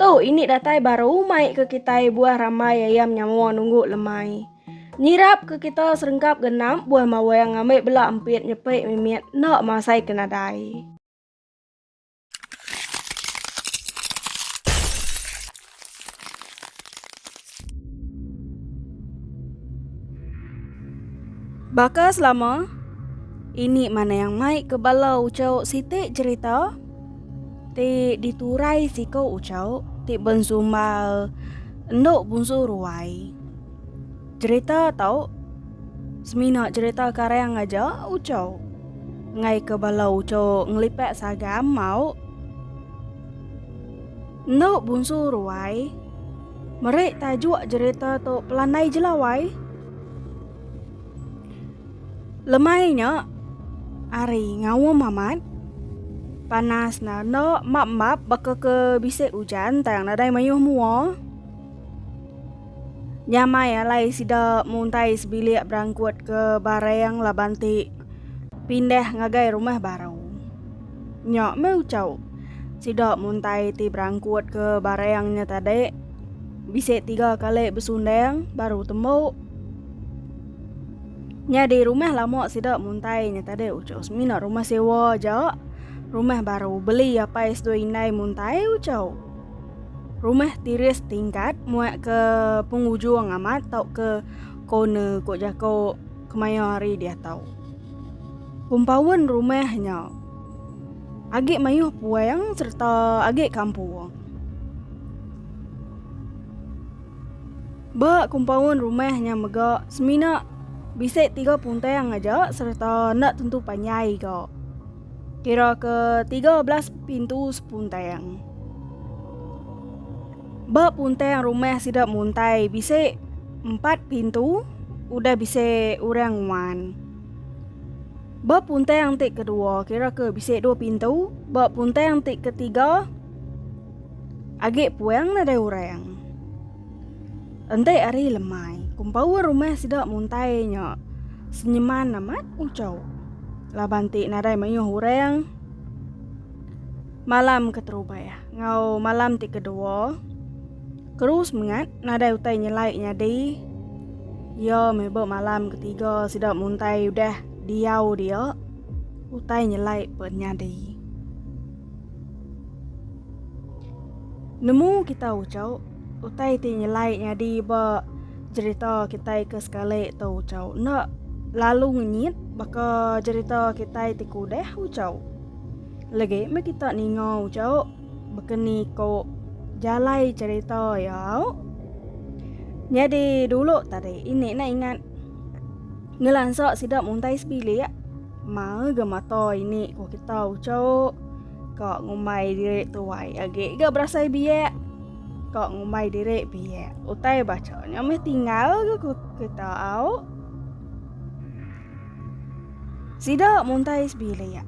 Tu ini datai baru mai ke kitai buah rambai ayam nyawa nunggu lemai. Nyirap ke kita serengkap genap buah mawang ngambil bela empit nyepi mimit enda masai ke nadai. Baka selama ini mana yang mai ke bala ucau siti cerita ti diturai siko ucau ti bensumbal endok bunsu ruai. Cerita tau semina cerita karang aja ucau ngai ke bala ucau ngelipat sagam mau Endo bunsu ruai. Meri tajuk jerita tu Pelanai Jelawai. Lemai nya hari ngaum amat. Panas ne endo map-map baka ke bisi ujan tang nadai mayuh mua. Nyamai alai sida muntai sebilik berangkut ke barang laban ti pindah ngagai rumah baru. Nya meh ucau. Sida muntai ti berangkutka barang nya tadi bisi tiga kali besundang baru tembu. Nyadi rumah lama sida muntai nya tadi ucau semina rumah sewa aja. Rumah baru beli apai seduai indai muntai ucau. Rumah tiris tingkat muak ke pengujung amat tauka corner ko jako kemaya hari diatau. Kumpaun rumah nya. Agi mayuh puang serta agi kampung. Ba kumpaun rumah nya mega semina bisi tiga puntang aja serta enda tentu panjai ga. Kira ke tiga belas pintu sepuntang. Ba puntang rumah sida muntai bisi empat pintu udah bisi orang nguan. Ba puntang ti kedua, kira ke bisi dua pintu, ba puntang ti ketiga agi puang nadai orang. Enti hari lemai, kumpawa rumah sida muntai nya senyeman amat ucau. Laban ti nadai mayuh orang. Malam keterubai enggau malam ti kedua, Kru Semengat nadai utai nyelai nyadi iya meh ba malam ketiga sida muntai udah diau dia utai nyelai pun nyadi. Nemu kita uchau utai ti nyelai nyadi ba jerita kitai ke sekali tu ucha enda lalu ngenyit baka jerita kitai ti ke udah ucha. Legi meh kita ninga uchauk bekeni ko jalai cerita ya auk. Nyadi dulu tadi ini na ingat ngelansa sida muntai sebilik mau ga mata ini ko kita uchauk ka ngumbai diri tuai agi ga berasai biak ka ngumbai diri biak utai bacha nya meh tinggal ga kita auk. Sida muntai sebilik.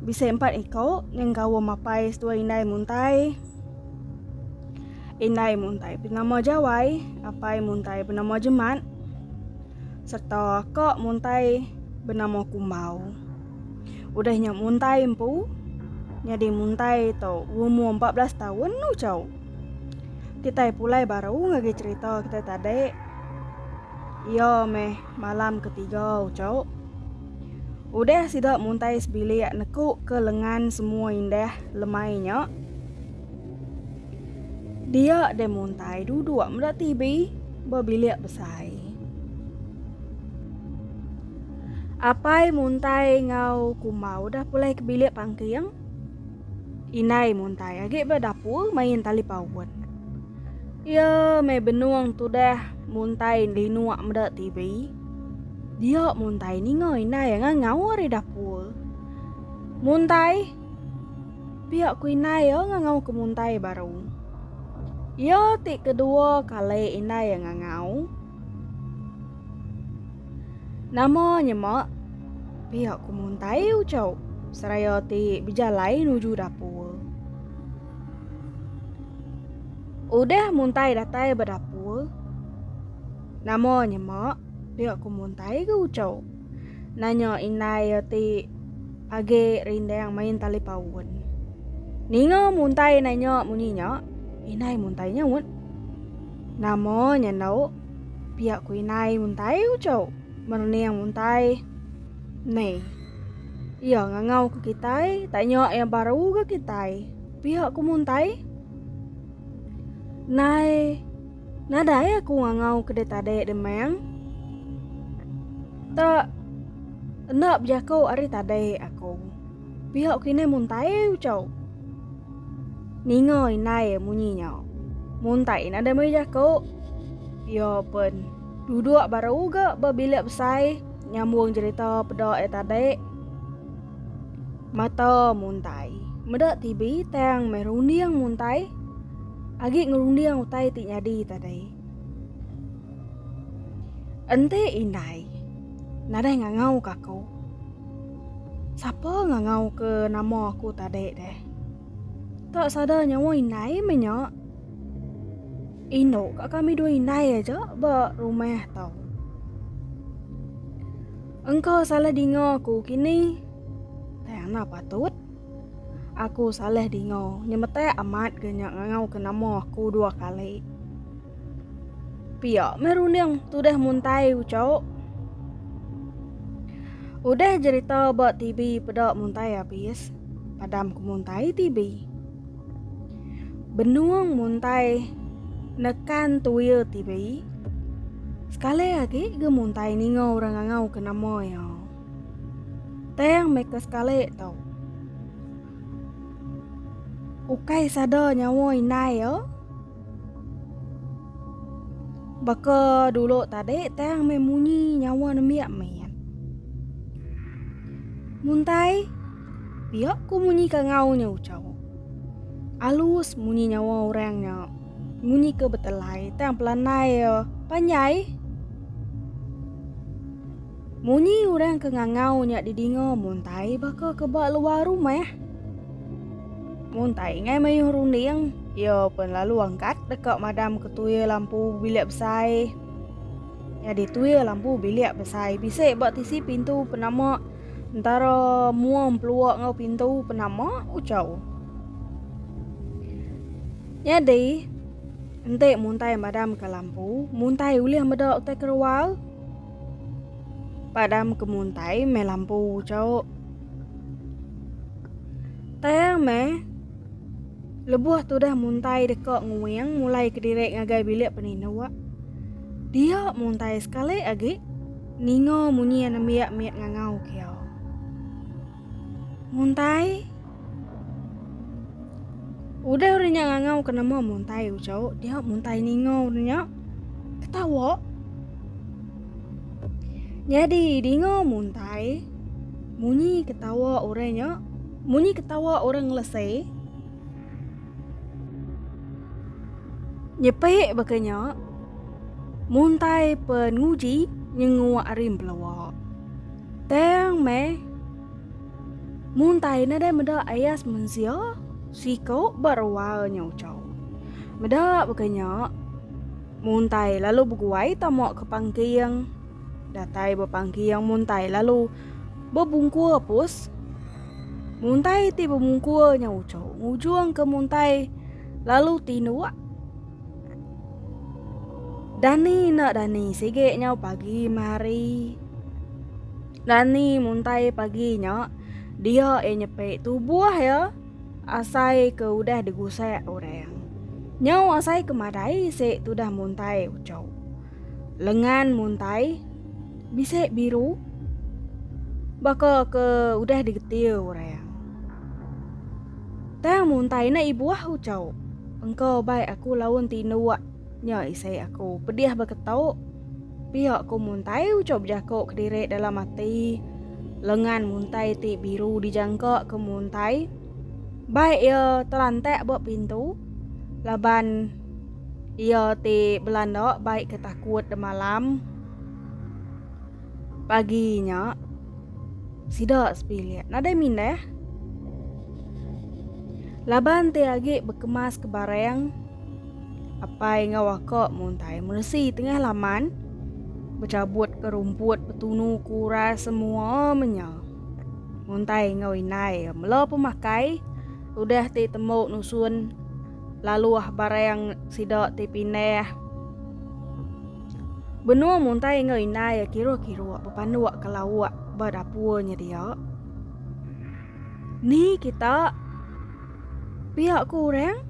Bisi empat iko nyenggaum mapai setua indai muntai. Indai muntai benama Jawai, apai muntai benama Jemat serta ko muntai benama Kumbau. Udah nya muntai empu nyadi muntai to umur empat belas taun uco. Kitai pulai baru ngagai cerita kitai tadi. Iyo meh. Malam ketiga uco. Udah sida muntai sebilik neku ke lengan semua indah lemai nya. Dia de muntai duduk meda TV ba bilik besai. Apai muntai ngau kuma udah pulai ke bilik pangking. Indai muntai agi ba dapur main tali paun. Iya meh benung tudah muntai linuk meda TV. Dia muntai ninga inai ngan ngau ari dapur. Muntai. Pia ku inai ya ngan ngau ke muntai baru. Iya ti kedua kali inai ngan ngau. Nama nyema? Pia ku muntai ucau seraya ti bejalai nuju dapur. Udah muntai datai ba dapur. Nama nyema pia ku muntai ke ucau. Nanya indai iya ti age rindang main tali paun. Ninga muntai nanya munyi nya, indai muntai nyaut. Nama nyandau pia ku indai muntai ucau. Merening muntai. Mei. Iya ngangau ke kitai tak nya iya baru ga kitai. Pihak ku muntai. Nai nadai aku ngangau ke dia tadi demang. Tak enda bejaku ari tadi aku. Pihak kini muntai ucau. Ninga indai munyi nya. Muntai nadai meri jaku. Iya pen. Duduk ba ruga ba bilik besai nyambung cerita peda ai tadi. Mata muntai. Meda TV tang meh runding muntai. Agi ngerunding utai ti nyadi tadi. Enti indai nadai ngangau ka aku. Sapa ngangau ke nama aku tadi deh. Tak sadar nyawa indai meh nya. Indu ka kami dua indai aja ba rumah tau. Engka salah dinga aku kini. Tayana patut. Aku salah dinga nyemetak amat ke nya ngau ke nama aku dua kali. Pia meh runding tudah muntai ucok. Udah jerita ba TV peda muntai abis. Padam ke muntai tibi. Benung muntai nekan tuya tibi. Sekali agi ke muntai ninga orang ngangau ke nama iya. Tang meka sekali tu. Ukai sada nyawa indai iya. Baka dulu tadi tang meh munyi nyawa nembiak main. Muntai pia ku munyi ka ngau nya ucau. Alus munyi nyawa orang nya munyi ke betelai tang pelanai panjai. Munyi orang ke ngangau nya didinga Muntai baka ke ba luar rumah. Muntai ngai mayuh runding, iya pun lalu angkat deka madam ke tuil lampu bilik besai. Nyadi tuil lampu bilik besai bisi ba tisi pintu penama entara mua empelua enggau pintu penama ucau. Nyadi enti Muntai madam ke lampu, Muntai ulih meda utai kerual Padam ke muntai meh lampu cau. Tayang meh lebuh tudah muntai deka nguing mulai kediri ngagai bilik peninduk. Dia muntai sekali agi ninga munyi anembiak mit ngangau kiau. Muntai. Udah orang nya ngangau ke nama Muntai ucau, dia Muntai ninga orang nya ketawa. Nyadi dinga Muntai munyi ketawa orang nya, munyi ketawa orang ngelesai. Nyepek baka nya Muntai pen nguji nyenguk ari belawa. Tang meh. Mun tai ne deh meda ayas mensia, siko ba rual nya ucau. Meda baka nya, mun tai lalu beguai tama ke pangking, datai ba pangking mun tai lalu bebungkur pus. Mun tai ti bebungkur nya ucau ngujung ke mun tai lalu tinduk. Dani enda dani sigi nyau pagi mehari. Dani muntai pagi nya dia iya nyepi tubuh iya asai ke udah digusak orang. Nyau asai ke madai isi tudah muntai uchu. Lengan muntai bisi biru baka ke udah digetir orang. Tang muntai ne ibuh ucau. Engka bai aku laun ti nuak nya isi aku pedih beketu. Pia ku muntai ucau bejaku kediri dalam ati. Lengan muntai ti biru dijangka ke muntai. Bai ia terantak ba pintu laban Iya ti belanda bai ke takut demalam. Pagi nya sida sepilik nadai mindah. Laban ti agi bekemas ke barang apai enggau aka muntai meresi tengah laman bechabut ke rumput betunu ke uras semua menya. Muntai enggau indai mela pemakai udah ti tembu nusun laluh barang sida ti pindah. Benung muntai enggau indai kiruh-kiruh bepanduk ke lauk ba dapur nya dia. Ni kita pia ku orang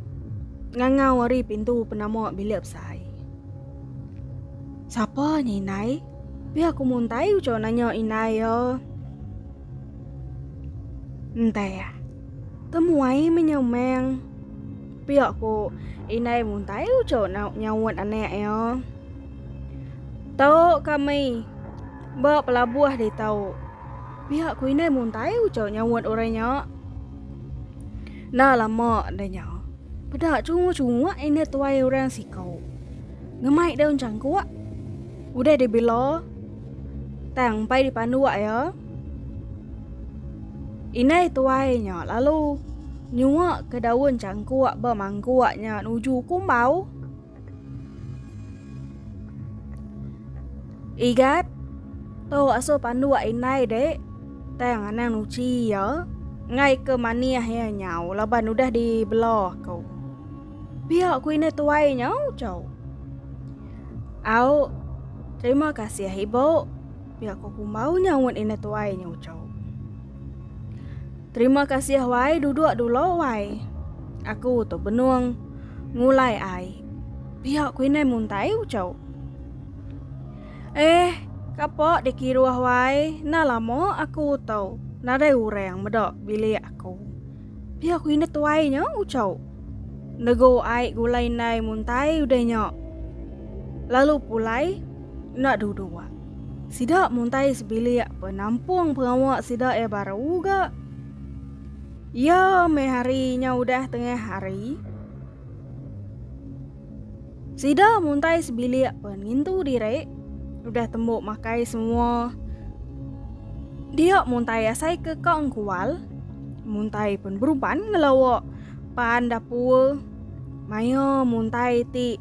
ngangau ari pintu penama bilik besai. Sapa nya indai? Pia ku muntai ucau nanya indai ya. Entai. Temuai menyemang. Pia ku indai muntai ucu nak nyaut anak iya. Tau kami ba pelabuh ditu. Pia ku indai muntai ucu nyaut orang nya. Enda lama da nya peda chungu chungu indai tuai orang siku ngemai daun changkuk udah dibila tang empai dipanduk iya. Indai tuai nya lalu nyuak ke daun cangkuk ba mangkuk nya nuju kumbau. Igat, tu asuh panduk indai dek, tang anang nuchi iya, ngai ke manih iya nyau laban udah di bela aku. Pia ku indai tuai nya uchau. Au, terima kasih ibu. Pia ko kumbau nyaut ina tuai nya ucau. Terima kasih wai duduk dulu wai. Aku tu benung ngulai ai. Pia ku inai muntai ucau. Eh, kapo dikiruh wai, na lama aku tau nadai orang meda bilik aku. Pia ku ina tuai nya ucau. Nego ai gulai nai muntai udah nya. Lalu pulai Enda dudu wa. Sida muntai sebilik penampung pengawa sida iya baru ga. Iya meh hari nya udah tengah hari. Sida muntai sebilik pen ngintu diri udah tembu makai semua. Dia muntai asai ke ka engkual muntai pen beruban ngelawa pan dapur maya muntai ti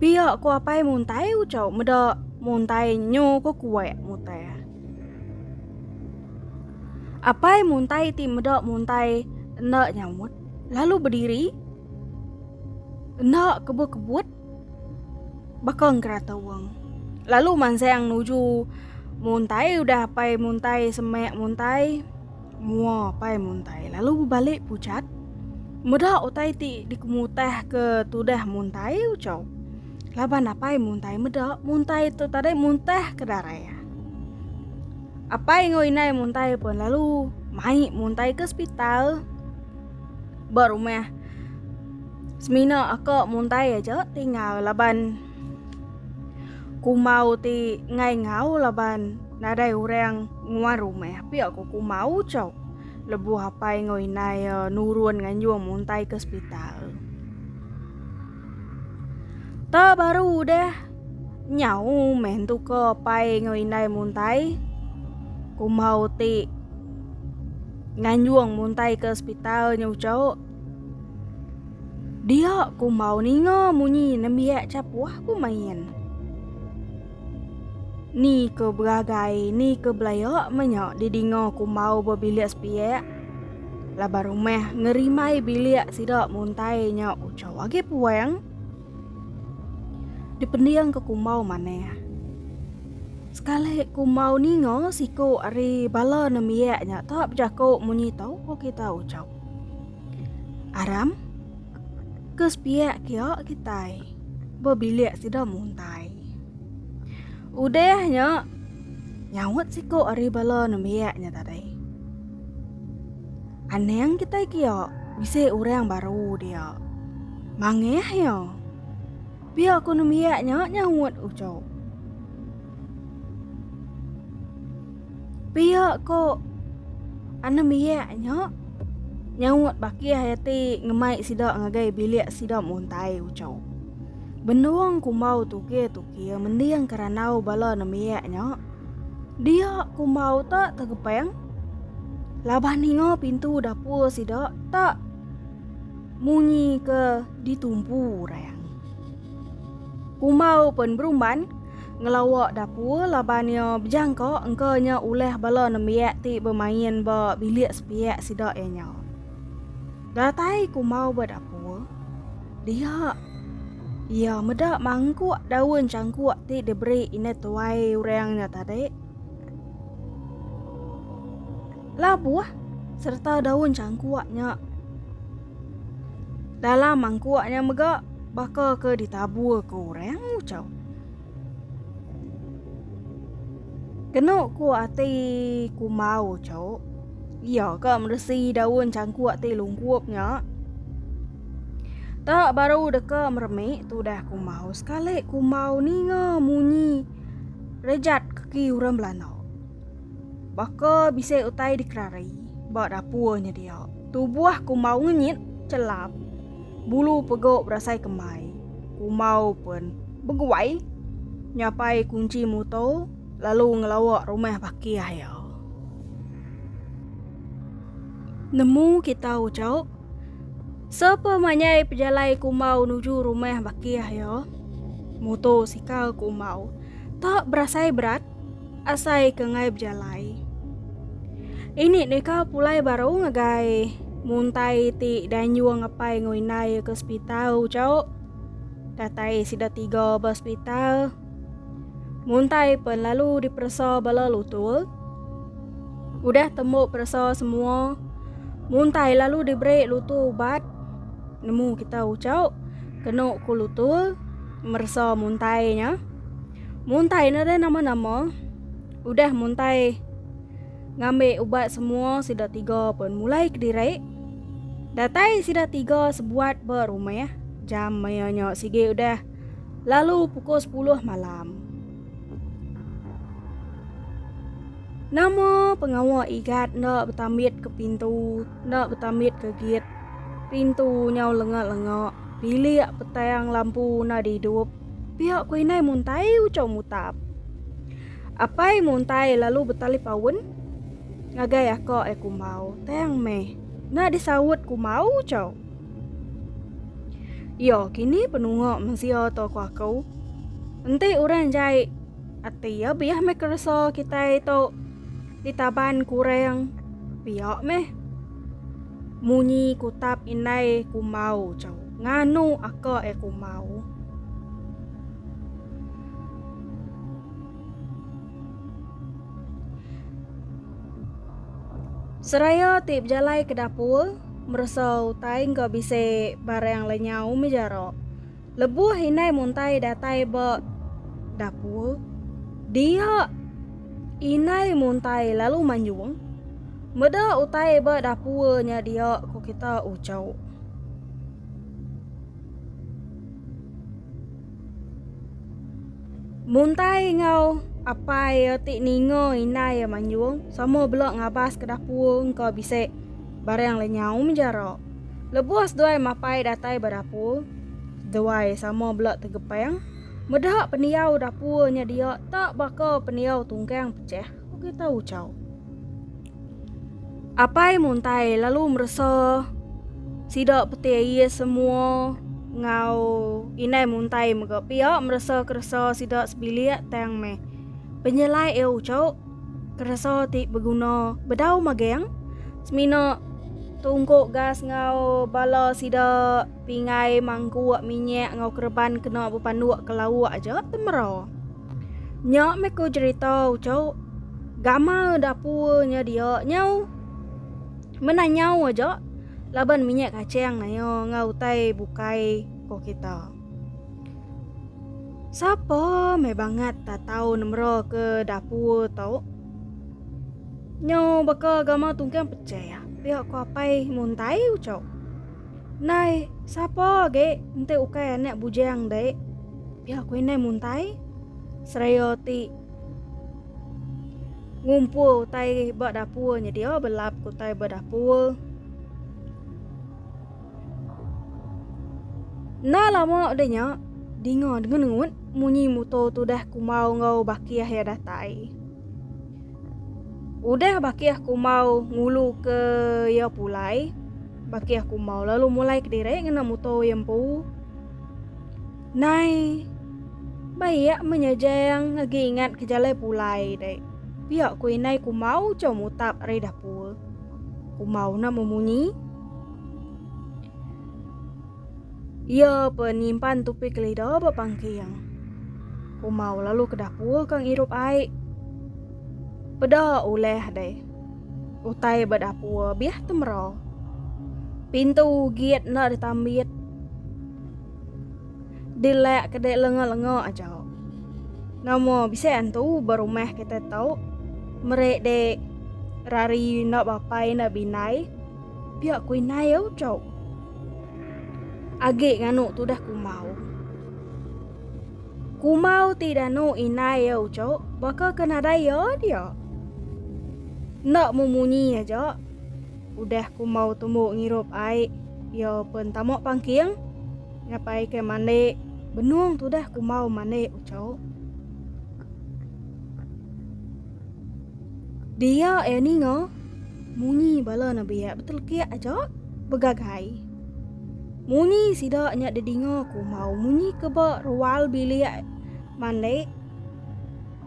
Pia ko apai muntai ucau meda muntai nyu ko kuek mutai. Apai muntai ti meda muntai enda nyaut lalu berdiri enda kebut-kebut baka ngerata wang. Lalu mansang nuju muntai udah apai muntai semek muntai. Mua pai muntai lalu bebalik pucat. Meda utai ti dikemutah ke tudah muntai ucau. Laban apai muntai meda muntai tu tadai muntah ke darai. Apai enggau inai muntai pun lalu mai muntai ke sepital. Ba rumah semina aka muntai aja tinggal laban. Kumau ti ngai ngau laban nadai orang nguar rumah pia ko kumau chok lebuh apai enggau inai ya nurun nganjung muntai ke sepital. Ta baru udah nyau meh entu ke apai enggau inai muntai kumau ti nganjung muntai ke sepital nyau chok. Dia ku mau ninga munyi nembiak capuh ku main. Ni ke beragai, ni ke belaya menya didinga ku mau bebilik sepiak. Laban rumah ngerimbai bilik sida muntai nya ucha agi puang. Dipending ke ku mau manah. Sekali ku mau ninga siku ari bala nembiak nya tak bejaku munyi tau ku kita ucha. Aram, ke sepiak kia kitai. Bebilik sida muntai. Udahnya nyaut siku ari bala nembiaknya tadi. Anang kitai kia bisi orang baru dia. Mangih ya. Pia ku nembiaknya nyaut ucap. Pia ko Anum Biak nya, nyaut Bakih Hayati ngemai sida ngagai bilik sida muntai uchu. Benung kumbau tukir-tukir mending ke randau bala nembiak nya. Dia kumbau tak tegepeng. Laban ninga pintu dapur sida tak munyi ke ditumpu orang. Kumbau pun berumban Ngelawa dapur laban iya bejangka engka nya ulah bala nembiak ti bemain ba bilik sepiak sida iya nya. Datai ku Mau ba dapur, dia iya meda mangkuk daun changkuk ti diberi indah tuai orang nya tadi. Labuh serta daun changkuk nya Dalam mangkuk nya mega baka ke ditabur ke orang ucau. Kenu ku ati kumbau ucau. Iya ke meresi daun cangkuk ti lungkup nya. Tak baru deka meremik tudah kumbau sekali kumbau ninga munyi rejat kaki orang belandau. Baka bisi utai dikerari ba dapur nyedia. Tubuh kumbau ngenyit celap. Bulu pegok berasai kembai. Kumbau pun beguai nyapai kunci muto lalu ngelawa rumah bakih iya. Nemu kita ucok. Sepa manyai pejalai kumbau nuju rumah bakih iya. Muto sikal kumbau. Tak berasai berat. Asai ke ngai bejalai. Ini neka pulai baru ngagai muntai ti danyung ngepai ngau inai ke sepital ucau. Datai sida tiga ba sepital. Muntai pen lalu diperesa bala lutul. Udah temu peresa semua. Muntai lalu diberi lutul ubat. Nemu kita ucau. Kenu ku lutul meresa muntai nya. Muntai ne re nama-nama udah muntai ngambi ubat semua sida tiga pun mulai kediri. Datai sida tiga sebuat ba rumah jam maya nya sigi udah lalu pukul 10 malam. Nama pengawa Igat enda betambit ke pintu, enda betambit ke git. Pintu nyau lenga-lenga, bilik petang lampu enda didup. Pia ku inai muntai ucau mutap. Apai muntai lalu betali paun ngagai ako ai kumbau tang meh enda disaut kumbau ucau. Iyo kini penunga mensia to ku ako. Enti orang jai ati iya biah meh keresa kitai to ditaban ku orang pia meh munyi kutap inai kumbau ucau. Nganu aka eh kumau. Seraya ti bejalai ke dapur meresa utai engka bisi barang le nyau meh jara. Lebuh indai muntai datai ba dapur dia indai muntai lalu manjung. Meda utai ba dapur nya dia ku kita uchu. Muntai enggau apai iya ti ninga indai iya manjung sama bela ngabas ke dapur engka bisi barang le nyau menjara. Lebuh seduai mapai datai ba dapur seduai sama bela tegepeng meda pendiau dapur nya dia tak baka pendiau tungkang pecah. Uga tau chau. Apai muntai lalu meresa sida peti air semua ngau indai muntai mega pia meresa keresa sida sebilik tang meh. Penyelai e uco keresa ti beguna bedau mageng semina tungku gas ngau bala sida pingai mangkuk minyak ngau kereban kena bepanduk ke lauk aja temera. Nya meh ku cerita ucok gamal dapur nya dia nyau. Menah nyau aja laban minyak kacang naya enggau utai bukai ko kita. Sapa meh bangat ta tau nemera ke dapur tu. Nyau baka gamal tungkang pecah ya pia ko apai muntai ucok. Nai sapa agi enti ukai anak bujang dek. Iya aku indai muntai seraya ti ngumpul utai ba dapur nya dia belap ku utai ba dapur. Na lama udah nya dinga dengut-dengut munyi motor tu dah kumau enggau bakih ya datai. Udah bakih kumau ngulu ke ya pulai. Bakih kumau lalu mulai kediri ngena motor ya empu. Nai. Bayak menyejang ngegi ingat ke jalai pulai dek. Pia ku inai kumau cau mutap ari dapur. Kumau na memunyi. Ia pe nyimpan tupi kelida ba pangking. Kumau lalu ke dapur kang irup ai. Peda uleh dek. Utai ba dapur biah temera. Pintu git na ditambit. Dilek ke dek lenga-lenga aja. Nama bisi antu ba rumah kita tu. Merik dek rari enda bapai enda bindai. Pia ku indai au cau. Agi nganu tudah kumau. Kumau ti danu indai au cau baka ke nadai ya dia. Enda memunyi aja. Udah kumbau tumbu ngirup ai iya pen tamu pangking ngapai ke mandi benung tudah kumbau mandi ucau. Dia iya ninga munyi bala nebiak betelekik aja begagai. Munyi sida nya didinga kumbau munyi ke ba rual bilik mandi.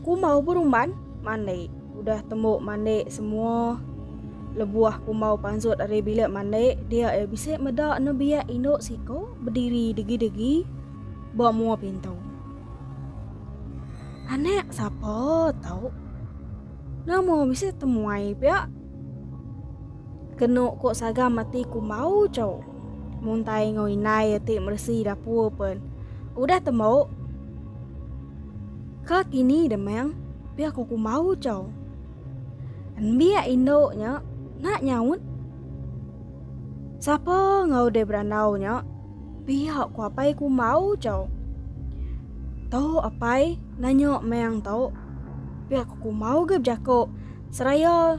Kumbau berumban mandi. Udah tembu mandi semua lebuh kumbau panzut ari bilik mandi, dia iya bisi meda nebiak indu siku bediri degi-degi ba mua pintu. Anak sapa tu? Nama bisi temuai pia? Kenu ku sagam ati kumbau tu. Muntai enggau indai iya ti meresi dapur pen. Udah temu. Ke kini demang pia ko kumau cau. Enbiak indo nya nak nyaut. Sapa enggau deh berandau nya pia ko apai kumau cau. Tu apai nanya meng tu pia ko kumau ge bejako seraya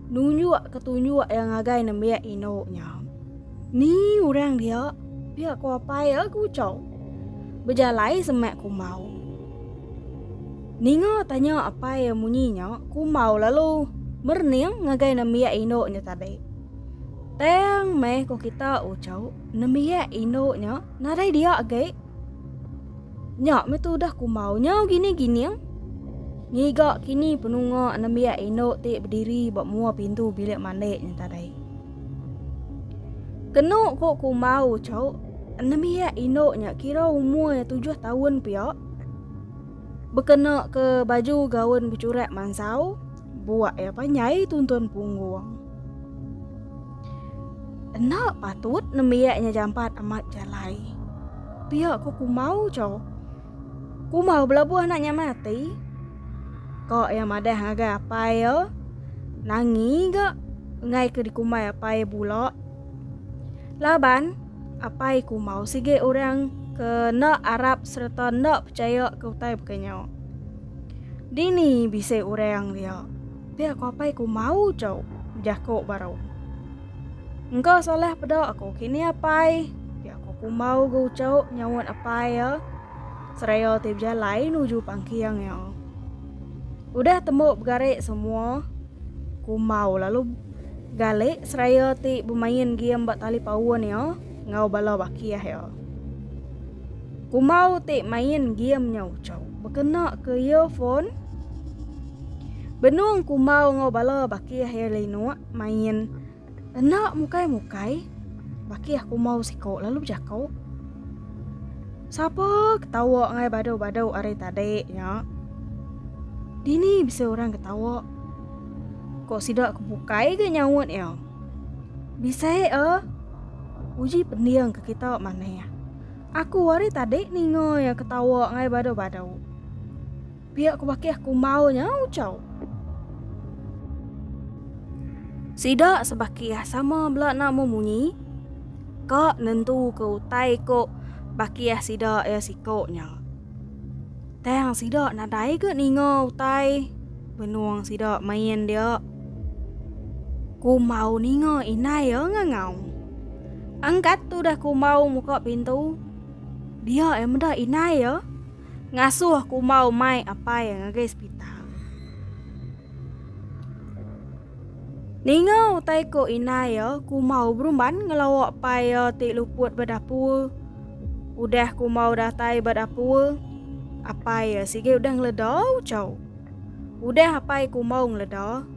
nunjuk ke tunjuk iya ngagai nembiak indu nya. Ni orang dia? Pia ko apai iya ke Ucau. Bejalai semak Kumbau. Ninga tanya apai iya munyi nya, Kumbau lalu merning ngagai nembiak indu nya tadi. Tang meh ko kita Ucau, nembiak indu nya nadai dia agi. Nya meh tu udah kumau nyau gini gining. Ngiga kini penunga nembiak indu ti berdiri ba mua pintu bilik mandi nya tadai. Kenu ko kumau cau nembiak indu nya kira umur nya tujuh tahun pia. Bekena ke baju gaun becurak mansau, buak ya panyai tuntun punggung. Enda patut nembiak nya jampat amat jalai. Pia ko kumau cho. Kumau belabuh anak nya mati. Ko iya madah ngagai apai iya. Nangi ga ngai ke dikumbai apai bula. Laban apai kumau sigi orang ke enda arap sereta enda pechaya ke utai baka nya. Dini bisi orang dia. Pia ko apai ku mau cau, ujar ko baru. Engka salah peda aku kini apai. Pia ko kumau go cau nyaut apai ya. Seraya ti bejalai nuju pangking ya. Udah temu begari semua. Kumau lalu galik seraya ti bemain game ba tali paun ya ngau bala bakih ya. Kumau ti main game nyau cau. Bekena ke earphone. Benung Kumau enggau bala baki iya Linuk main enda mukai-mukai. Baki iya Kumau siko lalu bejako, Sapa ke tawa ngai badu-badu ari tadi nya? Dini bisi orang ke tawa? Ko sida ke bukai ga nyaut iya. Bisi a uji pending ke kita manah. Aku ari tadi ninga iya ke tawa ngai badu-badu. Pia ku bakih aku mau nya ucau. Sida sebakih sama bela nak memunyi ka nentu ke utai ko bakih sida ia siko nya. Tang sida nadai ke ninga utai benung sida main dia. Ku mau ninga inai ia ngangau. Angkat tu dah ku mau muka pintu. Dia ia meda inai ia. Ngasuh kumbau mai apai ngagai sepital. Ninga utai ko inai ya, kumbau berumban ngelawa pai ya ti luput ba dapur. Udah kumbau datai ba dapur, apai ya sigi udah ngeleda ucau. Udah apai kumbau ngeleda,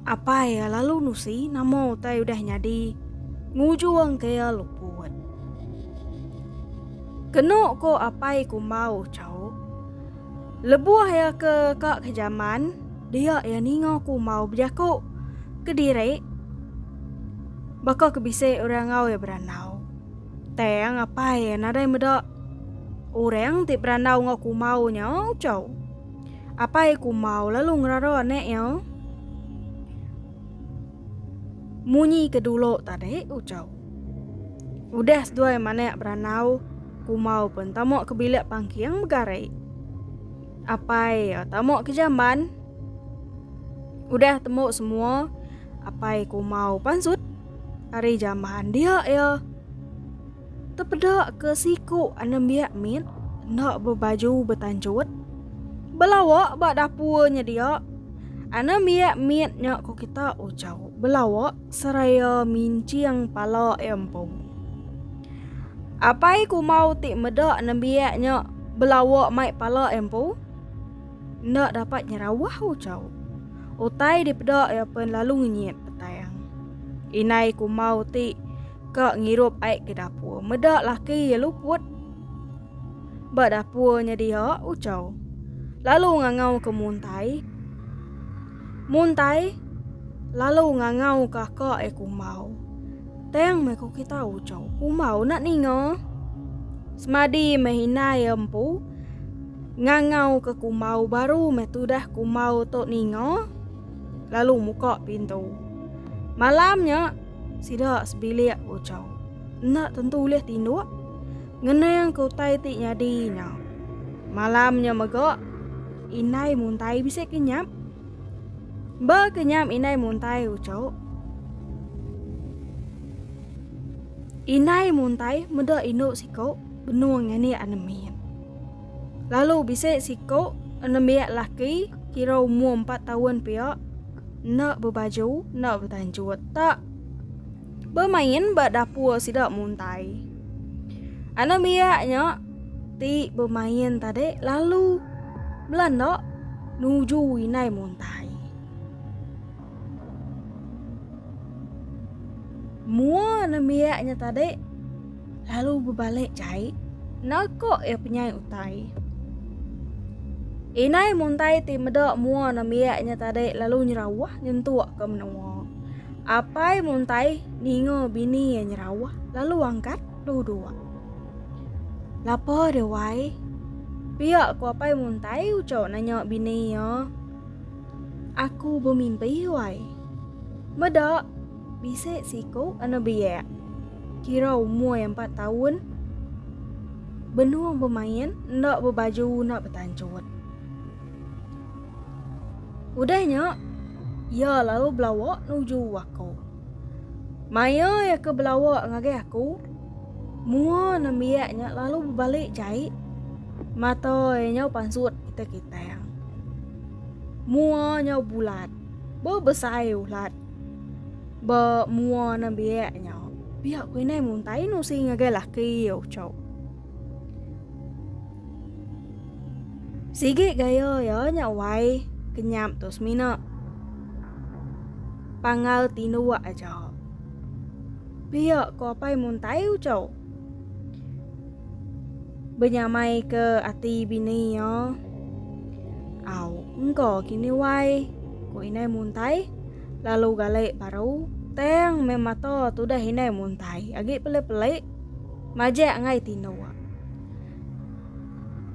apai ya lalu nusi nama utai udah nyadi. Ngujung ke ya luput. Kenu ko apai ku mau chau. Lebuh iya ke ka ke jaman, dia iya ninga ku mau bejaku ke diri baka ke bisi orang enggau iya berandau. Tang apai iya nadai meda orang ti berandau enggau ku mau nya chau. Apai ku mau lalu ngerara anak iya. Munyi ke dulu tadi ucau. Udah seduai manak beranau, kumau pun tamu ke bilik pangking begari. Apai eh, tamu ke jamban. Udah temu semua, apai kumau pansut ari jamban dia ya. Tepeda ke siku anembiak mit enda bebaju betanjut. Belawa ba dapur nyedia. Anembiak mit nya ku kita ucau belawa seraya minching pala iya empu. Apai kumau ti meda anembiak nya belawa mai pala iya empu enda dapat nyerawah ucau. Utai dipeda iya pen lalu ngenyit petang. Inai kumau ti Ka ngirup ai ke dapur. Meda laki iya luput. Ba dapur nya dia Ucau. Lalu ngangau ke Muntai. Muntai lalu ngangau ke ka e Kumbau. Tang meh ku kita Ucau. Kumbau nak ninga. Semadi meh inai empu ngangau ke Kumbau baru meh tudah Kumbau tu ninga lalu muka pintu. Malam nya Sida sebilik ucau. Enda tentu ulih tinduk. Ngenang ke utai ti nyadi nya. Malam nya mega, Indai Muntai bisi ke nyap. Ba ke nyap Indai Muntai ucau. Indai Muntai meda indu siku benung nganik anemin. Lalu bisi siku enembiak laki kira umur empat tahun pia enda bebaju enda betanjut tak bermain ba dapur sida muntai. Anembiak nya ti bermain tadi lalu belanda nuju inai muntai. Mua nembiak nya tadi lalu bebalik jai nako iya penyai utai. Inai muntai ti meda mua nembiak nya tadi lalu nyerawah nyentuk ke menua. Apai muntai ninga bini iya nyerawah lalu angkat duduk. Lapa dia wai? Pia ku apai muntai ucau nanya bini iya. Aku bemimpi wai. Meda, bisi siku anak biak, kira umur empat taun, benung bemain enda bebaju unak betanchut. Udah nya, iya lalu belawa nuju aku. Maya iya ke belawa ngagai aku, mua nembiak nya lalu bebali jai. Mata iya nyau pansut kitang-kitang. Mua nyau bulat. Bebesai ulat. Ba mua nembiak nya, pia ku indai muntai nusi ngagai laki iya uchu. Sigi gaya iya nya wai kenyap tu semina. Pangal tinduk aja. Pia ko apai muntai uco. Benyamai ke ati bini iya. Au, engko kini wai ko inai muntai lalu galai baru tang meh mata tudah inai muntai agi peli-peli majak ngai tinduk.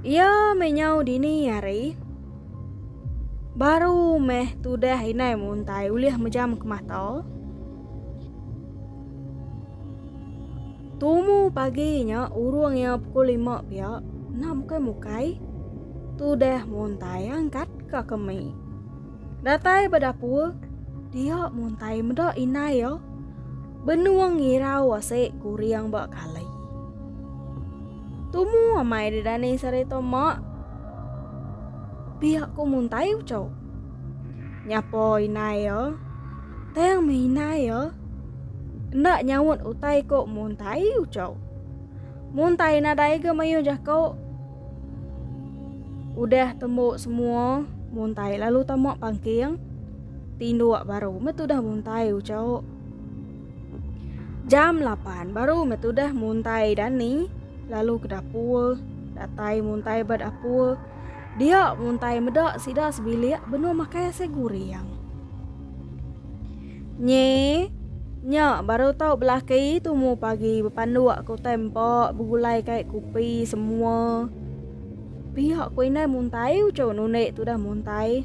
Iya meh nyau dini hari. Baru meh tudah inai muntai ulih mejam ke mata. Tumu pagi nya urung iya pukul lima pia. Nah mukai-mukai. Tudah muntai angkat ka kemi. Datai ba dapur, dia muntai meda indai ya. Benua ngirau asik kuring ba kali. Tumu amai di dani sarita mak. Pia ku muntai ucau. Nyapa indai ya. Tang meh indai ya. Enda nyaut utai ko muntai ucau. Muntai nadai ga mayuh jako. Udah tembu semua, muntai lalu tamak pangking. Tinduk baru metudah muntai ucau. Jam 8 baru metudah muntai Dani lalu ke dapur. Datai muntai ba dapur. Dia muntai meda sida sebilik benung makai ase guring. Nye nya baru tau belaki tumu pagi bepanduk ke utai empa begulai kai kupi semua. Pia ko indai muntai uchu nunde tudah muntai.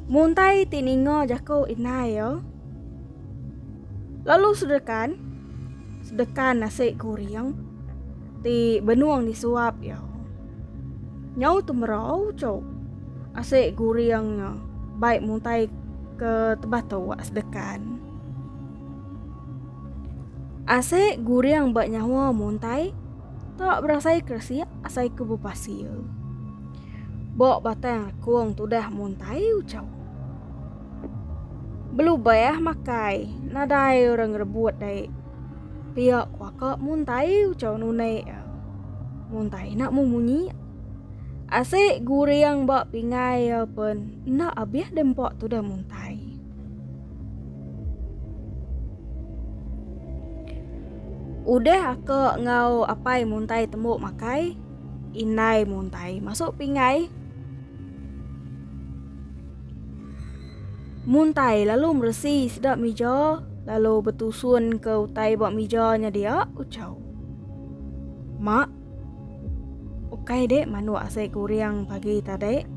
Muntai ti ninga jaku indai yo. Lalu sedekan sedekan nasi goreng ti benung disuap yo. Nyau tu merau cho. Asik guring nya. Baik mutai ke tebah tu wak sedekan. Asik guring ba nyawa mutai tak berasai keresik asai ke bepasil. Bok batang kong tudah mutai ucau. Belubah makai nadai orang rebut dai. Riak kuaka muntai ucau nunai ya. Muntai nak mu munyi. Asik guring ba pingai ya pun nak abih dempak tu dah muntai. Udah aka ngau apai muntai temu makai. Indai muntai masuk pingai. Muntai lalu meresi sedap mija lalu betusun ke utai ba mija nya dia Uchau. Mak, ukai dek manuk asai guring pagi tadi.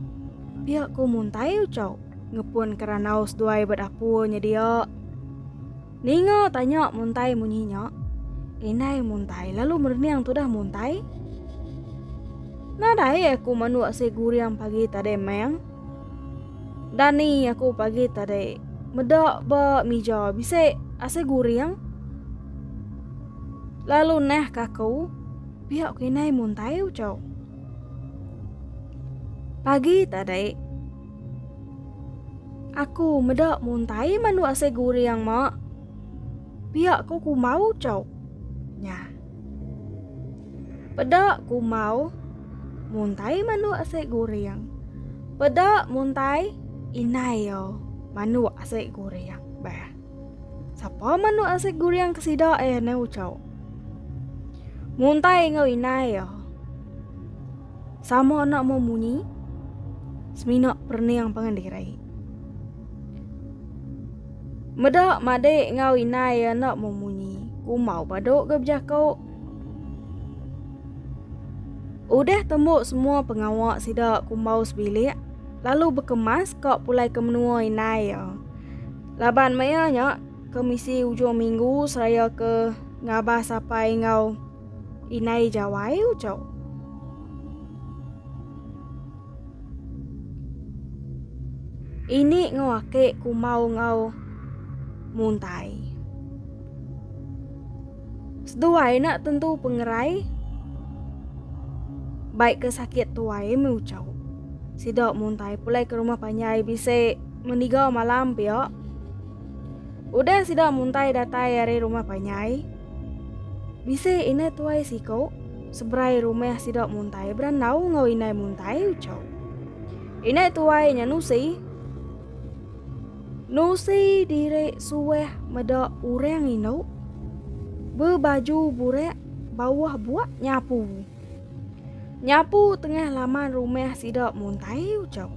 Pia ku Muntai Uchau ngepun ke randau seduai ba dapur nya dia. Ninga tanya Muntai munyi nya, indai Muntai lalu merening tudah Muntai. Nadai aku manuk asai guring pagi tadi, Meng. Dani aku pagi tadi. Meda ba mija bisi asai guring. Lalu nah kaku pihak kinai muntai ucau. Pagi tadi aku meda muntai mandu asai guring mak. Pihak ku kumau ucau. Nyah. Peda kumau muntai manuk asai guring. Peda muntai inai yo manuk asai guring. Bah. Sapa manuk asai guring ke sida eh ne ucau. Muntai ngau inai yo. Sama anak mau munyi. Semina perning pangan diri. Meda madik ngau inai anak mau munyi. Kumau paduk ke bejakuk. Udah tembu semua pengawa sida kumbau sebilik lalu bekemas ka pulai ke menua indai iya. Laban maya nya ke misi ujung minggu seraya ke ngabas apai enggau indai jawai uchu. Ini enggau ake kumbau enggau muntai. Seduai enda tentu pengerai bai ke sakit tuai meh ucau. Sida muntai pulai ke rumah panjai bisi mendiga malam pia. Udah sida muntai datai ari rumah panjai, bisi indah tuai siku seberai rumah sida muntai berandau enggau indai muntai ucau. Indai tuai nya nusi. Nusi diri suah meda orang indu bebaju burak bawah buak nyapu. Nyapu tengah laman rumah sida muntai ucau.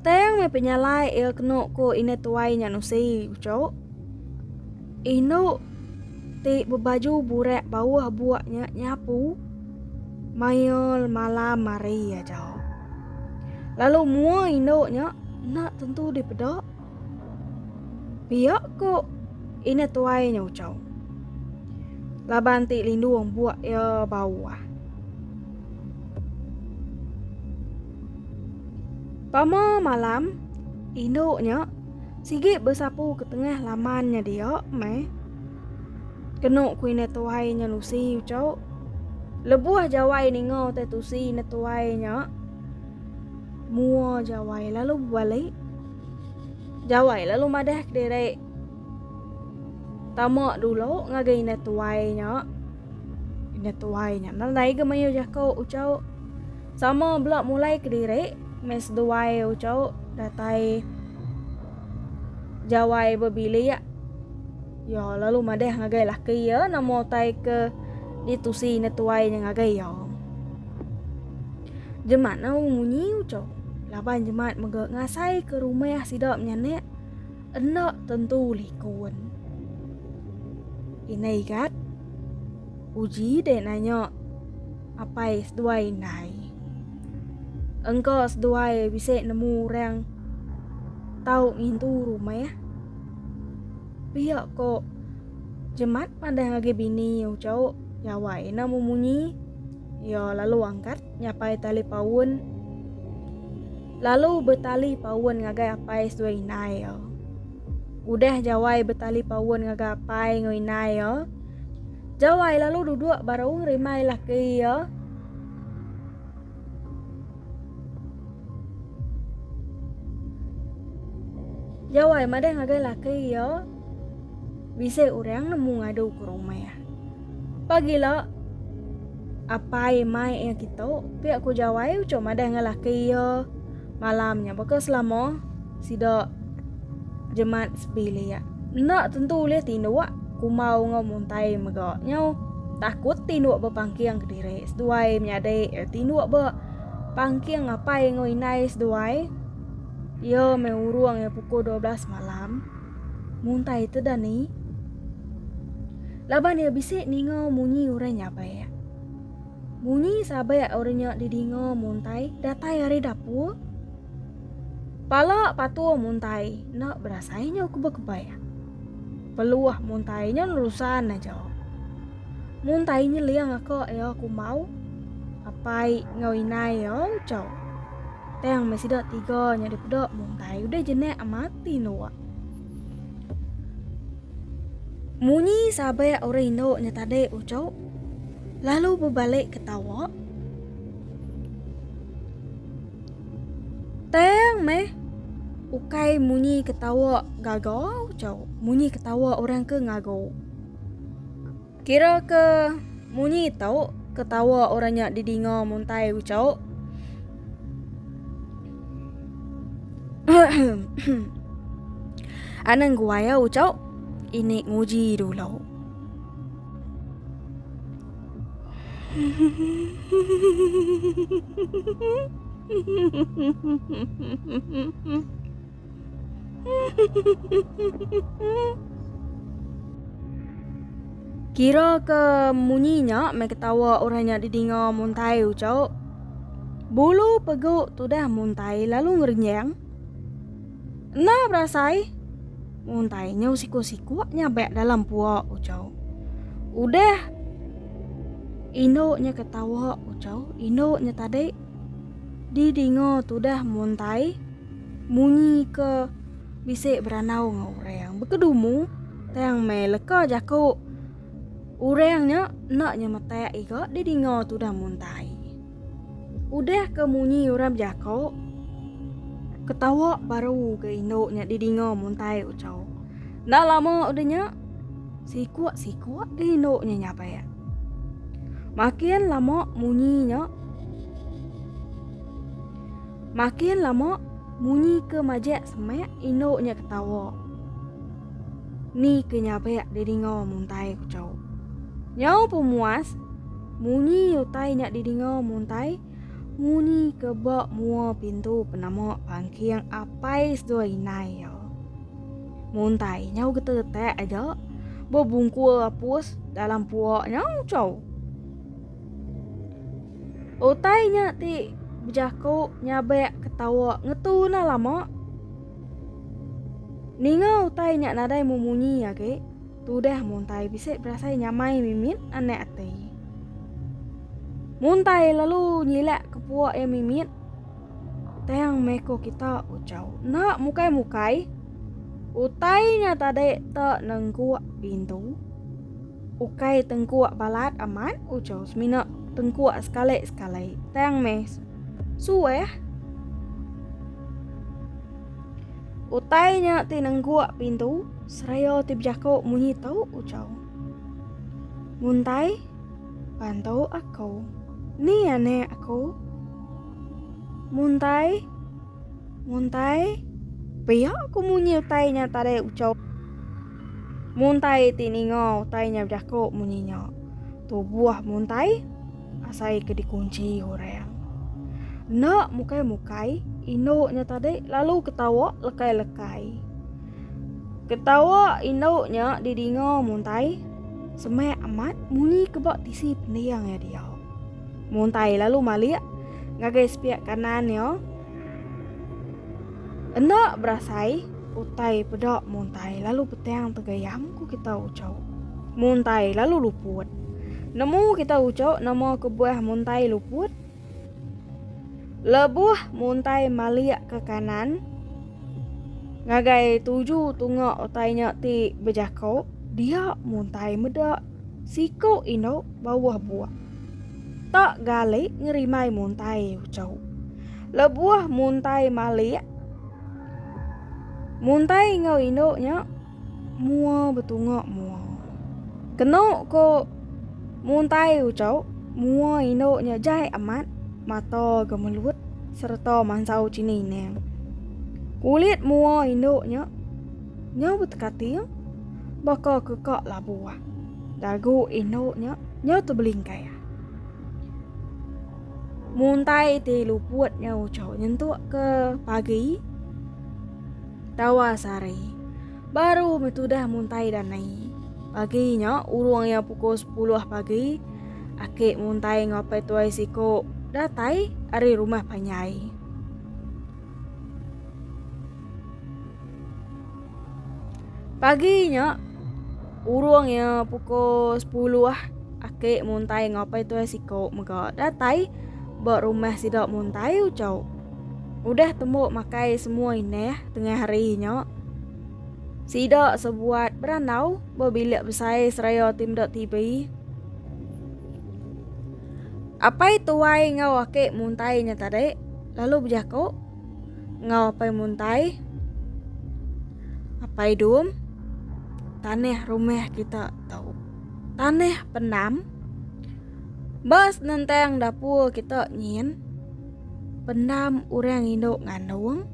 Tang me penyalai ia kena ko ina tuai nya nusi ucau. Indu ti bebaju burak bawah buak nya nyapu mail malam mari aja. Lalu mua indu nya nak tentu dipeda. Piak ko ina tuai nya ucau. Laban ti lindung buak ia bawah. Pama malam indu nya Sigi besapu ke tengah laman nya dia, meh. Kenu ku ina tuai nya nusi ucau. Lebuh jawai ninga utai tusi ina tuai nya, mua jawai lalu bebali. Jawai lalu madah ke diri. Tama dulu ngagai ina tuai nya. Ina tuai nya nadai ke mayuh jaku ucau. Sama bela mulai kediri meh seduai ucau datai jawai bebilik. Ya lalu madah ngagai laki ya nama utai ke ditusi ne tuai nya ngagai ya. Jemat ne munyi ucau. Laban jemat mega ngasai ke rumah sida menyanak enda tentu likun. Inai gat. Uji dek nanya apai seduai indai. Engka seduai bisi nemu orang tau ngintu rumah. Pia ko Jemat pandang agi bini ucau jawai ina memunyi. Ia lalu angkat nyapai tali paun. Lalu betali paun ngagai apai seduai indai ia. Udah jawai betali paun ngagai apai enggau indai ia. Jawai lalu duduk baru rimai lah ke iya. Jawai madah ngagai lah ke iya. Bisa orang nemu ngadu ke rumah ya. Pagila apai mai iya kita pia ku jawai ucok madah ngalah ke iya. malam nya baka selama sida jemat sebilik. Enda tentu ulih tinduk kumau enggau muntai mega nyau takut tinduk bepangking ke diri seduai menyadi eh, tinduk be pangking apai enggau inai seduai. Ia me urung eh pukul 12 malam. Muntai teda ni. Laban ia bisi ninga munyi orang nyapai. Munyi sabak orang nya didinga Muntai datai ari dapur. Pala patung Muntai enda berasai nyau ke bekebai. Peluh Muntai nya nerusan aja. Muntai nyeling aka iya kumau. Apai enggau inai iya ucau. Tang meh sida tiga nya dipeda Muntai udah jenak mati nuak. Munyi sabik orang indu nya tadi ujuk lalu bebalik ke tawa. Tang meh ukai munyi ketawa gaga ujuk, munyi ketawa orang ke ngagu. Kira ke munyi tau ketawa orang nya didinga muntai ucau. Anang guai ya ucau. Ini nguji dulu. Kira ke munyi nya meh ketawa orang nya didinga Muntai Ucok. Bulu peguk tudah Muntai lalu ngerenyang. Nah berasai. Muntai nya usiku-siku nyabak dalam puak Ucok. Udah induk nya ketawa Ucok, induk nya tadi didinga tudah Muntai. munyi ke bisi berandau enggau orang. Bekedumu tang mai leka jaku orang nya enda nyemetak iga didinga tudang muntai. Udah ke munyi orang bejaku ketawa baru ke indu nya didinga muntai uchu. Enda lama udah nya siku-siku ke indu nya nyabak. Makin lama munyi nya. Makin lama, munyi ke majak semak indu nya ketawa. Ni ke nyabak didinga muntai ku cau. Nyau pemuas, munyi utai nya didinga muntai munyi ke ba mua pintu penama pangking Apai Sdua Inai iya. Muntai nyau getetak aja bebungkul apus dalam puak nyau cau. Utai nya ti bejaku nyabek ketawa ngetu nah lama. Ninga utai nya nadai memunyi agi, tudah muntai bisi berasai nyamai mimit anak ati. Muntai lalu nyilak ke puak iya mimit, tang meko kita ucau enda mukai-mukai. Utai nya tadi te nengguk pintu. Ukai tengkuak balat amat ujar semina tengkuak sekali-sekali tang meh suah. Utai nya ti nengkuak pintu seraya ti bejako munyi tu ujar. Muntai bantu aku. Ni anak aku. Muntai muntai pia aku munyi utai nya tadi ujar. Muntai ti ninga utai nya bejaku munyi nya, tubuh muntai asai ke dikunchi orang. Enda mukai-mukai, indu nya tadi lalu ketawa lekai-lekai. Ketawa indu nya didinga muntai semak amat munyi ke ba tisi pending iya diau. Muntai lalu malik ngagai sepiak kanan iya. Enda berasai, utai peda muntai lalu petang tegayam ku kita ucau. Muntai lalu luput. Nemu kita ucau nama kebuah muntai luput? Lebuh muntai malik ke kanan, ngagai tuju tunga utai nya ti bejako, dia muntai meda siku indu bawah buak. Tok gali ngerimai muntai ucau. Lebuh muntai malik. Muntai enggau indu nya mua betunga mua. Kenu ko muntai ucau mua indu nya jai amat mata gemelut sereta mansau chini ning. Kulit mua indu nya nyau betekating baka keka labuh. Dagu indu nya. Nyau tu belingkai. Muntai ti luput nyau ucau nyentuk ke pagi. Tawa sari. Baru metudah muntai dan naik. Pagi nya urung ya pukul 10 pagi. Aki muntai ngapai tuai siko datai ari rumah panyai. Pagi nya urung ya pukul 10 ah aki muntai ngapai tuai siko mega datai ba rumah sida muntai ucau. Udah tembu makai semua indah tengah hari nya. Sida sebuat berandau ba bilik besai seraya ti meda TV. Apai tuai enggau aki muntai nya tadi lalu bejako. enggau Apai Muntai, Apai Dum, tanah rumah kita tu. Tanah Pendam. Ba senentang dapur kita nyin, Pendam orang indu ngandung.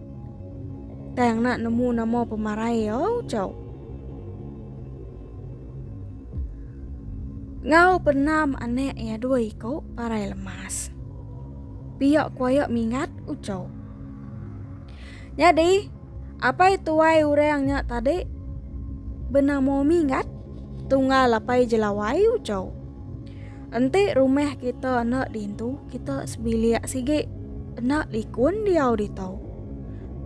Tang nak nemu nama pemarai au cau. Ngau Pendam anak iya dua iku parai lemas. Pia kuaya mingat ucau. Nyadi, apai tuai orang nya tadi benamo mingat tunggal apai jelawai ucau. Enti rumah kita enda dintu, kita sebilik sigi enda likun diau ditu.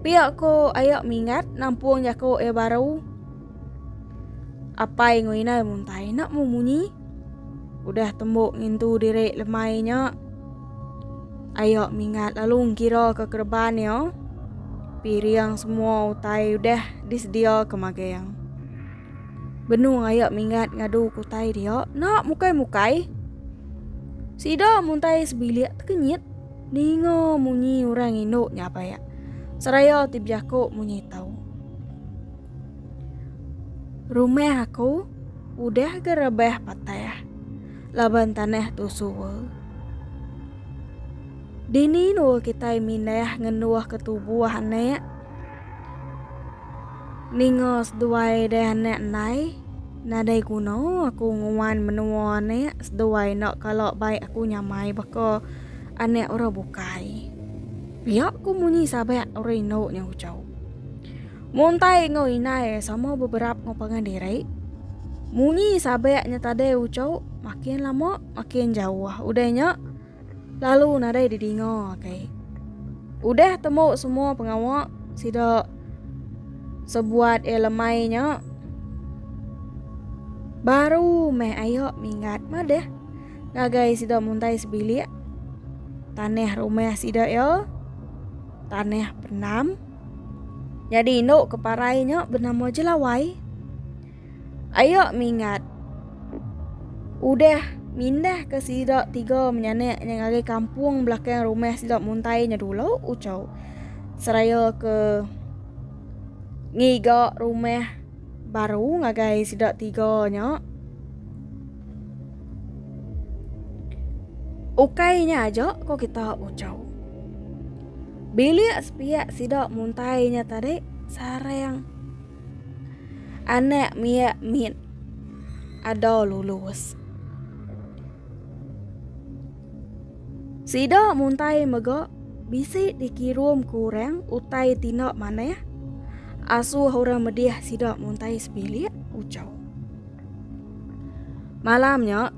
Pia ko aya mingat nampung jako iya baru. Apai ngau inai muntai enda memunyi. Udah tembu ngintu diri lemai nya, ayo mingat lalu ngira ke kereban iya. Piring semua utai udah disedia ke magang. Benung ayo mingat ngadu ke utai dia, enda mukai-mukai. Sida muntai sebilik tekenyit ninga munyi orang indu nya apai iya. Seraya ti bejaku munyi tau. Rumah aku. Udah ga rebah patah. Laban tanah tu suwa. Dini nua kitai mindah ngenduh ke tubuh anak. Ninga seduai deh anak ndai. Nadai guna aku nguan menua anak seduai enda kala bai aku nyamai baka anak orang bukai. Pia ku munyi sabak orang indu nya ujau. Muntai enggau indai sama beberap enggau pangan diri. Munyi sabak nya tadai ucau makin lama makin jauh. Udah nya lalu nadai didinga kai. Udah temu semua pengawa sida sebuat eh lemai nya baru meh ayo minggat madah ngagai sida muntai sebilik tanah rumah sida ya tanah pendam. Nyadi indu ke parai nya benama Jelawai. Ayo mingat udah mindah ke sida tiga menyanak nya ngagai kampung belakang rumah sida muntai nya dulu ucau. Seraya ke ngiga rumah baru ngagai sida tiga nya. Ukai nya aja ko kita ucau. Bilik sepiak sida muntai nya tadi sarang anak mia mit ada lulus. Sida muntai mega bisi dikirum ku orang utai tindak manah asuh orang medih sida muntai sebilik ucau. Malamnya